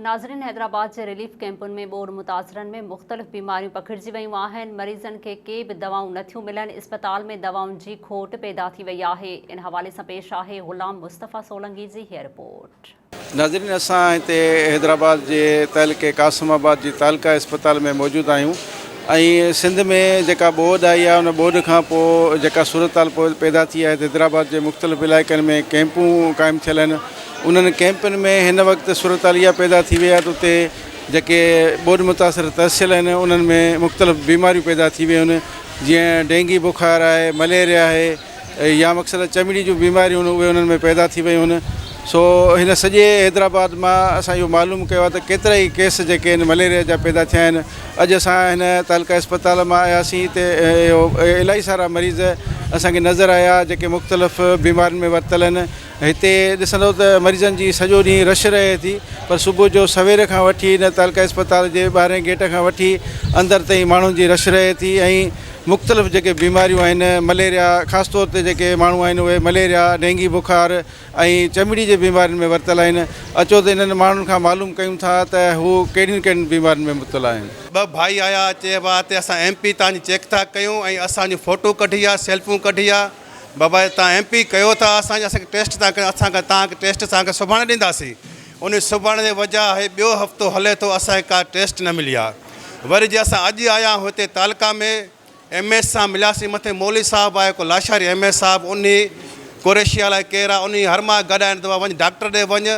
ناظرين حيدرآباد جي ريليف ڪئمپن ۾ ٻوڏ متاثرن ۾ مختلف بيماريون پکڙجي ويون آهن مريضن کي ڪي به دوائون نٿيون ملن اسپتال ۾ دوائن جي کوٽ پيدا ٿي وئي آهي ان حوالي سان پيش آهي غلام مصطفيٰ سولنگي جي هي رپورٽ. ناظرين اسان هتي حيدرآباد جي تعلقي قاسم آباد جي تعلقه اسپتال ۾ موجود آهيون ۽ سنڌ ۾ جيڪا ٻوڏ آئي آهي ان ٻوڏ کان پوء جيڪا صورتحال پيدا ٿي آهي ته حيدرآباد جي مختلف علائقن ۾ ڪئمپون قائم ٿيل آهن انهن ڪئمپن ۾ هن وقت صورتحال اها پيدا ٿي وئي آهي ته اتي جيڪي ٻوڏ متاثر ترسيل آهن انهن ۾ مختلف بيماريون پيدا ٿي ويون آهن جيئن ڊينگي بخار آهي مليريا آهي يا مقصد چمڙي جون بيماريون آهن اهي انهن ۾ پيدا ٿي ويون آهن سو هن سڄي حيدرآباد مان اسان اهو معلوم ڪيو آهي ته ڪيترا ئي ڪيس جيڪي آهن مليريا جا پيدا ٿيا آهن اڄ اسان هن تعلقه اسپتال مان آياسين هتي اهو الاهي سارا مريض اسانکي نظر آيا جيڪي مختلف بيمارين ۾ ورتل آهن هتي ڏسندو ته مريضن جي سڄو ڏينهن رش رهي ٿي پر صبح جو سوير کان وٺي هن تعلقه اسپتال جي ٻاهرئين گيٽ کان وٺي اندر تائين ماڻهن جي رش رهي ٿي ۽ مختلف جيڪي بيماريون آهن مليريا خاص طور تي جيڪي ماڻهو آهن اهي مليريا ڊينگي بخار ۽ چمڙي جي بيمارين ۾ ورتل آهن اچو ته انهن ماڻهن کان معلوم ڪيون ٿا ته هو ڪهڙين ڪهڙين بيمارين ۾ مبتلا آهن. ٻه ڀائي آيا چيو ها ته اسان ايم پي تان جي چيڪ ٿا ڪيون ۽ اسان جون فوٽو ڪڍي ها سيلفون ڪڍي ها. بابا تان ايم پي ڪيو ٿا اسان جي اسان کي ٽيسٽ تان ڪيو اسان کي تان کي ٽيسٽ تان کي سڀاڻي ڏينداسين انهي سڀاڻي جي وجهه آهي ٻيو هفتو هلي ٿو اسان کي ڪا ٽيسٽ نه ملي آهي وري جي اسان اڄ آيا آهيون هتي تعلقا ۾ ايم ايس سان ملياسين مٿي مولوي صاحب آهي ڪو لاشاري ايم ايس صاحب انهي قريشي الاء ڪير آهي انهي هر ماه گڏ آهن دوا وڃ ڊاڪٽر ڏي وڃ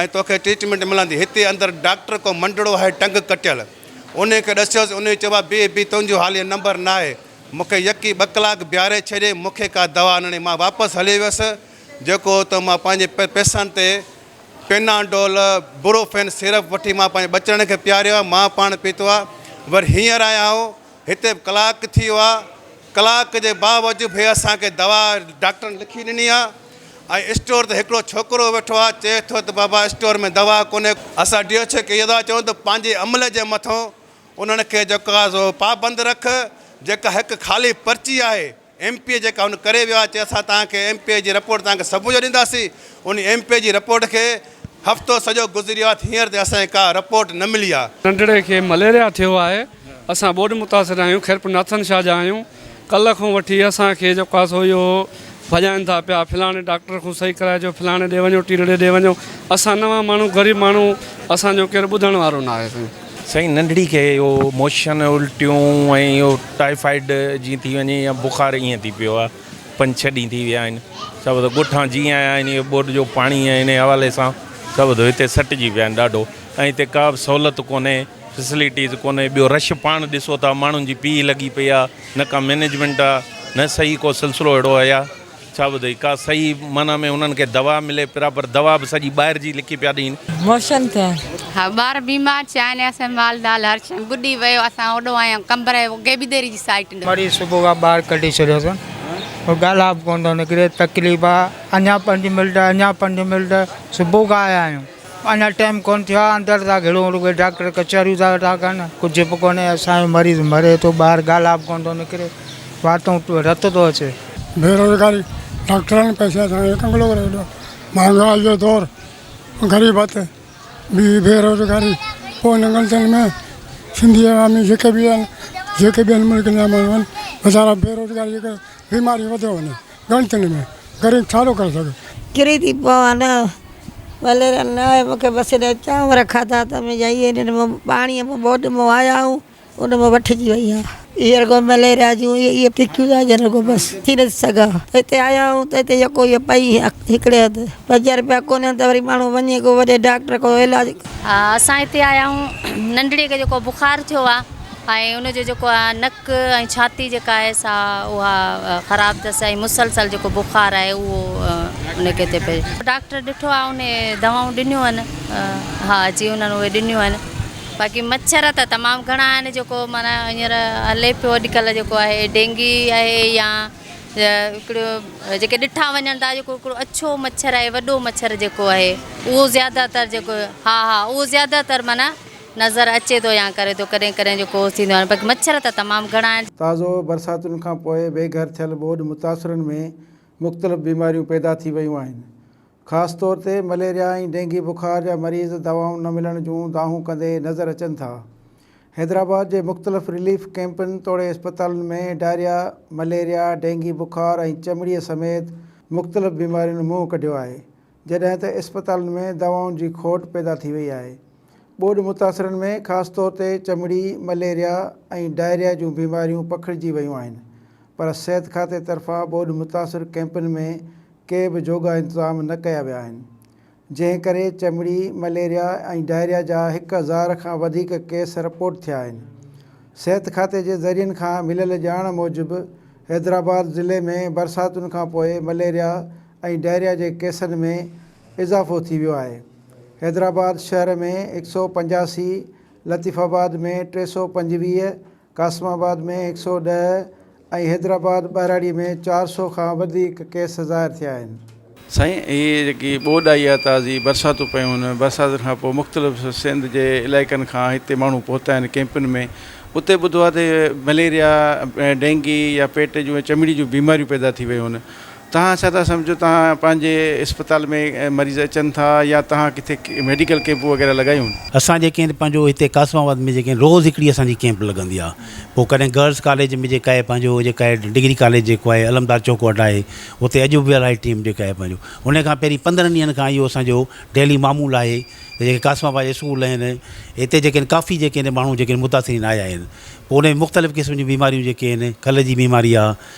۽ توکي ٽريٽمينٽ ملندي هتي اندر ڊاڪٽر ڪو منڊڙو آهي ٽنگ ڪٽيل انهي کي ڏسيوس انهي چيو بابا بيهه بيهه تنهنجو حالي نمبر ناهي مون کي يڪي ٻه ڪلاڪ بيهاري ڇڏي، مون کي ڪا دوا آڻڻي، مان واپس هلي ويس، جيڪو هو ته مان پنهنجي پئسن تي پيناڊول، بروفين سيرپ وٺي مان پنهنجي ٻچڙن کي پياريو آ، مان پاڻ پيتو آ، وري هينئر آيا آهو، هتي به ڪلاڪ ٿي ويو آ، ڪلاڪ جي باوجود به اسان کي دوا ڊاڪٽرن لکي ڏني آ ۽ اسٽور تي هڪڙو ڇوڪرو ويٺو آ، چئي ٿو ته بابا اسٽور ۾ دوا ڪونهي، اسان ڊي ايڇ او کي اها دوا چئون ته پنهنجي عملي جي مٿو. انهن کي جيڪا سو پابند رک، جيڪا هڪ خالي پرچي آهي ايم پي اي جيڪا هن ڪري ويو آهي چي اسان توهان کي ايم پي اي جي رپورٽ توهان کي صبح جو ڏينداسين ان ايم پي اي جي رپورٽ کي هفتو سڄو گذري ويو آهي ته هينئر تائين اسان کي ڪا رپورٽ نه ملي آهي. ننڍڙي کي مليريا ٿيو آهي اسان ٻوڏ متاثر آهيون خيرپور ناٿن شاهه جا آهيون ڪلهه کان وٺي اسان کي جو ڪاسو اهو هو، ڀڄائين ٿا پيا، فلاڻي ڊاڪٽر کان صحيح ڪرائي اچو، فلاڻي ڏي وڃو، ٽيلڙي ڏي وڃو، اسان نوان ماڻهو، غريب ماڻهو، اسان جو ڪير ٻڌڻ وارو ناهي سائين. سائين ننڍڙي کي اهو موشن الٽيون ۽ اهو ٽائيفائيڊ جيئن ٿي وڃي يا بخار ائين ٿي پيو آهي، پنج ڇهه ڏينهن ٿي ويا آهن، سڀ اٿي ڳوٺان جي آيا آهن، اهي ٻوڏ جو پاڻي ۽ انهي حوالي سان سڀ اٿي هتي سٽجي پيا آهن ڏاڍو ۽ هتي ڪا به سهولت ڪونهي. فيسلٽيز ڪونهي ٻيو رش پاڻ ڏسو ٿا ماڻهن جي پيهه لڳي پئي آ نه ڪا مينجمينٽ آ نه صحيح ڪو سلسلو اهڙو اهيا ڇا ٻڌئي ڪا صحيح معنيٰ ۾ انهن کي دوا ملي پراپر دوا به سڄي ٻاهر جي لکي پيا ڏين. موشن ٿين ها ٻار بيمار ٿيا آهن اسين مال دال هر شئي ٻڏي ويو اسان اوڏو آيا قمبر اهي گيبيديري جي سائيٽ ڏي. مريض صبح کان ٻاهر ڪڍي ڇڏيو اٿن ڪو ڳالهه به ڪونه ٿو نڪري تڪليف آ اڃان پنج ملٽ اڃان پنج ملٽ صبح کان آيا آهيون. اڃا ٽيم ڪونه ٿيو آ اندر ٿا گهڙون رڳو ڊاڪٽر ڪچهريون ٿا ويٺا ڪن ڪجهه به ڪونهي اسان جو مريض مري ٿو ٻاهر ڳالهه به ڪونه ٿو نڪري واتون رت ٿو اچي. بيروزگاري ڊاڪٽرن پئسي اسان کي ڪنگلو ڪري ڇڏيو مهانگائي جو دور غريبت بي بيروزگاري پوء هن غلطين ۾ سنڌي عوامي جيڪي به آهن جيڪي ٻين ملڪن جا ماڻهو آهن ويچارا بيروزگاري جي ڪري بيماري وڌيو وڃن. ڳالهه ڪنهن ۾ ڪري ڇا ٿو ڪري سگهي. ڪري ٿي پوان نه وليرا نه آهي مون کي بس هيڏانهن چانور کاڌا ته مون چيو اهي هن مان پاڻيء مان ٻوڏ مان آيا آهون ان مان وٺجي وئي آهي اهي رڳو مليريا جون اهي تکيون ٿا اچن رڳو بس ٿي نٿي سگهان ته هتي آيا آهيون ته هتي يڪو اهي پئي هڪڙي هنڌ پنجاهه رپيا ڪونهي آهن ته وري ماڻهو وڃي ڪو وڏي ڊاڪٽر کان علاج ڪرائي. اسان هتي آيا آهيون ننڍڙي کي جيڪو بخار ٿيو آهي ۽ ان جو جيڪو نڪ ۽ ڇاتي جيڪا آهي سا اها خراب اٿس ۽ مسلسل جيڪو بخار آهي اهو ان کي ٿي پئي. ڊاڪٽر ڏٺو آهي ان دوائون ڏنيون آهن ها جي انهن اهي ڏنيون آهن باقي مڇر ته تمام گهڻا آهن جيڪو معنيٰ هينئر هلي پيو اڄڪلهه جيڪو آهي ڊينگي آهي يا هڪڙو جيڪي ڏٺا وڃن ٿا جيڪو هڪڙو اڇو مڇر آهي وڏو مڇر جيڪو آهي اهو زياده تر جيڪو ها ها اهو زياده تر معنيٰ نظر اچي ٿو يا ڪري ٿو ڪڏهن ڪڏهن جو ڪوس ٿيندو آهي پر مڇر ته تمام گهڻا آهن. تازو برساتن کان پوء بي گهر ٿيل ٻوڏ متاثرن ۾ مختلف بيماريون پيدا ٿي ويون آهن خاص طور تي مليريا ۽ ڊينگي بخار جا مريض دوائون نه ملڻ جون دانهون ڪندي نظر اچن ٿا حيدرآباد جي مختلف رليف ڪئمپن توڙي اسپتالن ۾ ڊائريا مليريا ڊينگي بخار ۽ چمڙي سميت مختلف بيمارين منهن ڪڍيو آهي جڏهن ته اسپتالن ۾ دوائن جي کوٽ پيدا ٿي وئي آهي. ٻوڏ متاثرن ۾ خاص طور تي چمڙي، مليريا ۽ ڊائريا جون بيماريون پکڙجي ويون آهن پر صحت کاتي طرفان ٻوڏ متاثر ڪئمپن ۾ ڪي به جوڳا انتظام نه ڪيا ويا آهن جنهن ڪري چمڙي، مليريا ۽ ڊائريا جا هڪ هزار کان وڌيڪ ڪيس رپورٽ ٿيا آهن. صحت کاتي جي ذريعن کان مليل ڄاڻ موجب حيدرآباد ضلعي ۾ برساتن کانپوء مليريا ۽ ڊائريا جي ڪيسن ۾ اضافو ٿي ويو آهي حيدرآباد شهر ۾ هڪ سؤ پنجاسي، لطيف آباد ۾ ٽي سؤ پنجويهه، قاسم آباد ۾ هڪ سؤ ڏهه ۽ حيدرآباد ٻهراڙي ۾ چار سؤ کان وڌيڪ ڪيس ظاهر ٿيا آهن. سائين هي جيڪي ٻوڏ آئي آهي تازي برساتون پيون ان برساتن کان پوء مختلف سنڌ جي علائقن کان هتي ماڻهو پهتا آهن ڪيمپن ۾ اتي ٻڌو آهي ته مليريا ڊينگي يا پيٽ جون چمڙي جون بيماريون پيدا ٿي ويون آهن توهان ڇا ٿا سمجهو توهان پنهنجي اسپتال ۾ مريض اچن ٿا يا توهان ڪٿي ميڊيڪل ڪيمپون وغيره لڳايون. اسان جي ڪين پنهنجو هتي قاسم آباد ۾ جيڪين روز هڪڙي اسان جي ڪيمپ لڳندي آ پو ڪڏهن گرلس ڪاليج ۾ جيڪا آهي پنهنجو جيڪا آهي ڊگري ڪاليج جيڪو آهي علمدار چوڪ وٽ آهي اتي اڄ به الائي ٽيم جيڪا آهي پنهنجو ان کان پهرين پندرهن ڏينهن کان اهو اسان جو ڊيلي معمول آهي ته جيڪي قاسم آباد جي اسڪول آهن اتي جيڪين ڪافي جيڪين ماڻهو جيڪين متاثرين آيا آهن پو ان مختلف قسم جون بيماريون جيڪي آهن کل جي بيماري آ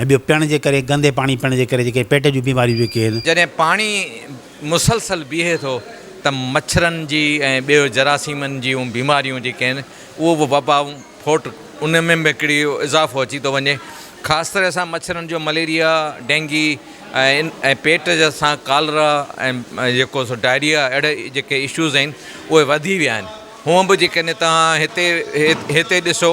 ۽ ٻيو پيئڻ جي ڪري گندي پاڻي پيئڻ جي ڪري جيڪي پيٽ جون بيماريون جيڪي آهن. جڏهن پاڻي مسلسل بيهي ٿو ته مڇرن جي ۽ ٻيو جراثيمن جون بيماريون جيڪي آهن اهو به وبائون ڦوٽ ان ۾ به هڪڙي اضافو اچي ٿو وڃي خاص طرح سان مڇرن جو مليريا ڊينگي ۽ ۽ پيٽ جا سان ڪالرا ۽ جيڪو سو ڊائريا اهڙي جيڪي اشوز آهن اهي وڌي ويا آهن هونء به جيڪڏهن توهان هتي هتي ڏسو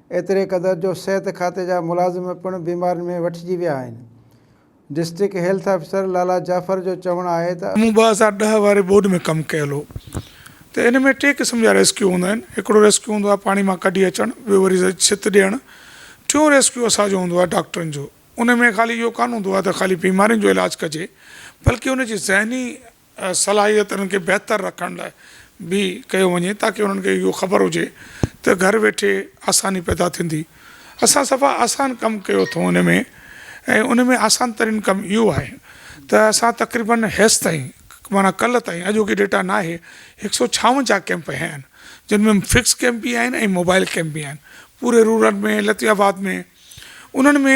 ايتري قدر جو صحت کاتي جا ملازم پڻ بيمارين ۾ وٺجي ويا آهن district health officer Lala Jafar جو چوڻ آهي ته مون ٻه هزار ڏهه واري ٻوڏ ۾ ڪم ڪيل هو ته ان ۾ ٽي قسم جا ريسڪيو هوندا آهن هڪڙو ريسڪيو هوندو آهي پاڻي مان ڪڍي اچڻ ٻيو وري ڇت ڏيڻ ٽيون ريسڪيو اسان جو هوندو آهي ڊاڪٽرن جو ان ۾ خالي اهو ڪانه هوندو آهي ته خالي بيمارين جو علاج ڪجي بلڪه ان جي ذهني صلاحيتن کي بهتر رکڻ لاء به ڪيو وڃي تاڪه انهن کي اهو خبر هجي ته گهر ويٺي آساني پيدا ٿيندي اسان صفا آسان ڪم ڪيو اٿئون ان ۾ ۽ ان ۾ آسان ترين ڪم اهو آهي ته اسان تقريبن هيس تائين معنيٰ ڪلهه تائين اڄوڪي ڊيٽا ناهي هڪ سؤ ڇاونجاهه ڪئمپ هيا آهن جن ۾ فڪس ڪئمپ به آهن ۽ موبائل ڪئمپ به آهن پوري رورل ۾ لطيف آباد ۾ انهن ۾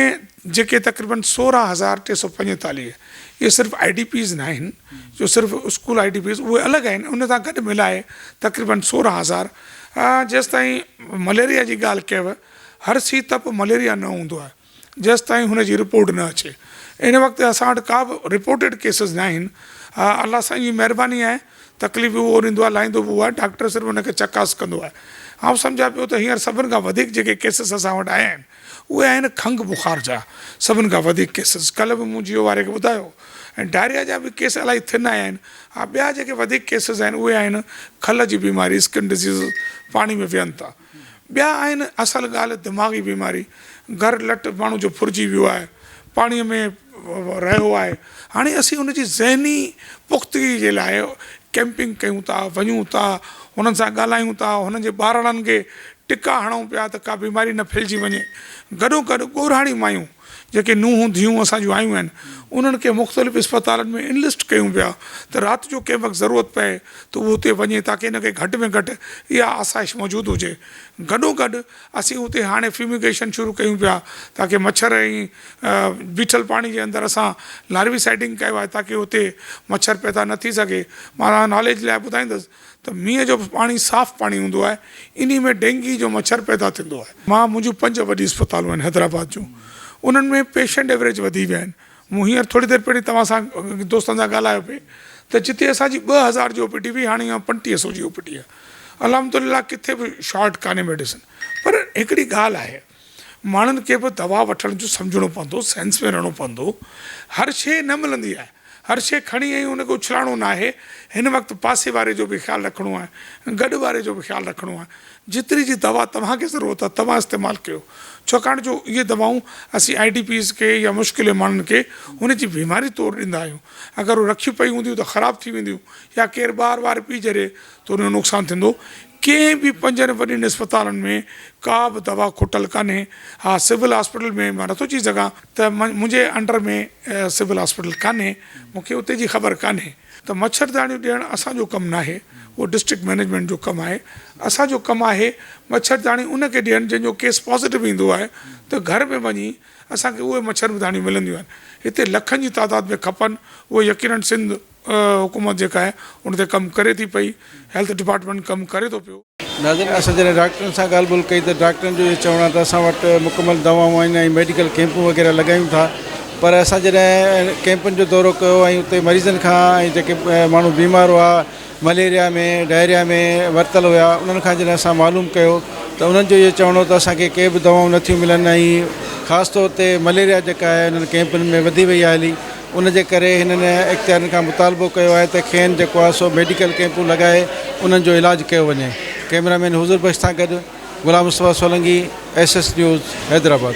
جيڪي تقريبن سورهن هزار ٽي سؤ پنجيتاليهه اهي صرف آئي ڊي پيز ناهن جو صرف اسڪول آئي ڊي پيز اهي الڳ آهن ان سان گڏ ملائي تقريبن سورهن هزار جيستائين مليريا جي ڳالهه ڪيو هر سي تپ مليريا نه هوندو آهي جيستائين هن جي رپورٽ نه اچي ان وقت اسان وٽ ڪا به رپورٽيڊ ڪيسز ناهن الله سائين جي مهرباني آهي تڪليف به اهو ڏيندو آهي، لائيندو به اهو آهي، ڊاڪٽر صرف ان کي چڪاس ڪندو آهي. آئون سمجهان پيو ته هينئر سڀن کان وڌيڪ جيڪي ڪيسز اسان وٽ آيا آهن، اهي آهن کنگهه بخار جا، سڀن کان وڌيڪ ڪيسز. ڪلهه به مون جيو واري کي ٻڌايو. ۽ ڊائريا جا به ڪيس الاهي ٿن آيا آهن. ها ٻيا جيڪي وڌيڪ ڪيسز آهن، اهي آهن کل جي بيماري، Skin Diseases، پاڻي ۾ ويهن ٿا. ٻيا آهن اصل ڳالهه دماغي بيماري گهر لٽ ماڻهو جو ڦرجي ويو آهي پاڻي ۾ رهيو آهي هاڻي اسين ان جي ذهني پختگي جي لاء ڪيمپنگ ڪيون ٿا وڃون ٿا هنن سان ڳالهايون ٿا هنن جي ٻارڙن کي ٽڪا هڻون پيا ته ڪا بيماري نه ڦهلجي وڃي گڏو گڏ ڳورهاڻي مايون جيڪي نونهن ڌيئون اسان جون آيون آهن انهن کي مختلف اسپتالن ۾ انلسٽ ڪيون پيا ته رات جو ڪنهن وقت ضرورت پئي ته هو اتي وڃي تاڪه ان کي گهٽ ۾ گهٽ اها آسائش موجود هجي گڏوگڏ اسين اتي هاڻي فيوميگيشن شروع ڪيون پيا تاڪه مڇر ۽ بيٺل پاڻي جي اندر اسان لاريوي سائيڊنگ ڪيو آهي تاڪه اتي مڇر پيدا نه ٿي سگهي مان ناليج لاء ٻڌائيندس ته مينهن جو پاڻي صاف پاڻي هوندو آهي انهي ۾ ڊينگي جو مڇر پيدا ٿيندو آهي. مان منهنجون پنج وڏي اسپتالون آهن حيدرآباد جون انهن ۾ پيشنٽ ايوريج وڌي ويا آهن مون هينئر ٿوري دير پهرين توهان سان دوستن سان ڳالهايو پئي ته جتي اسان جي ٻه هزار جي او پي ڊي هئي هاڻي اها پنٽيهه سو جي او پي ڊي آهي الحمد لله ڪٿي به شارٽ ڪانهي ميڊيسن پر هڪڙي ڳالهه آهي ماڻهن کي به دوا وٺڻ جو سمجهڻو پوندو سينس ۾ رهڻو پوندو هر شي نه ملندي آهي هر شي کڻي ۽ ان کي اڇلائڻو ناهي هن وقت پاسي واري جو به خيال رکڻو آهي گڏ واري جو به خيال رکڻو آهي جيتري جي دوا توهان کي ضرورت آهي توهان استعمال ڪيو ڇوڪاڻ جو اهي دوائون اسين آئي ڊي پيز کي يا مشڪلين ماڻهن کي ان جي بيماري طور ڏيندا آهيون اگر هو رکيون پيون هونديون ته خراب ٿي وينديون يا ڪير ٻار وار پي جري ته ان جو نقصان ٿيندو ڪنهن به پنجن وڏين اسپتالن ۾ ڪا به دوا کوٽل ڪانهي، ها سول هاسپيٽل ۾ مان نٿو چئي سگهان ته منهنجي انڊر ۾ سول هاسپيٽل ڪانهي، مون کي اتي جي خبر ڪانهي ته مڇرداڻيون ڏيڻ اسان جو ڪم ناهي، اهو ڊسٽرڪٽ مئنيجمينٽ جو ڪم آهي، اسان جو ڪم آهي مڇرداڻيون ان کي ڏيڻ جنهن جو ڪيس پازيٽو ايندو آهي ته گهر ۾ وڃي اسان کي اهي مڇرداڻيون ملنديون آهن، هتي لکن جي تعداد ۾ کپن اهي يقينن سنڌ. حڪومت جيڪا آهي ان تي ڪم ڪري ٿي پئي، هيلٿ ڊپارٽمينٽ ڪم ڪري ٿو پيو. ناظرين اسان جڏهن ڊاڪٽرن سان ڳالهه ٻولهه ڪئي ته ڊاڪٽرن جو اهو چوڻ آهي ته اسان وٽ مڪمل دوائون آهن ۽ ميڊيڪل ڪيمپون وغيره لڳايون ٿا پر اسان جڏهن ڪيمپن جو دورو ڪيو ۽ اتي مريضن کان ۽ جيڪي ماڻهو بيمار هئا مليريا ۾ ڊائريا ۾ ورتل هيا انهن کان جڏهن اسان معلوم ڪيو ته انهن جو اهو چوڻ هو ته اسان کي ڪي به دوائون نٿيون ملن ۽ خاص طور تي مليريا جيڪا آهي انهن ڪيمپن ۾ وڌي وئي آهي هلي ان جي ڪري هنن اختيارين کان مطالبو ڪيو آهي ته کين جيڪو آهي سو ميڊيڪل ڪيمپون لڳائي انهن جو علاج ڪيو وڃي ڪيمرا مين حضور بخش سان گڏ Ghulam Mustafa Solangi S S news Hyderabad.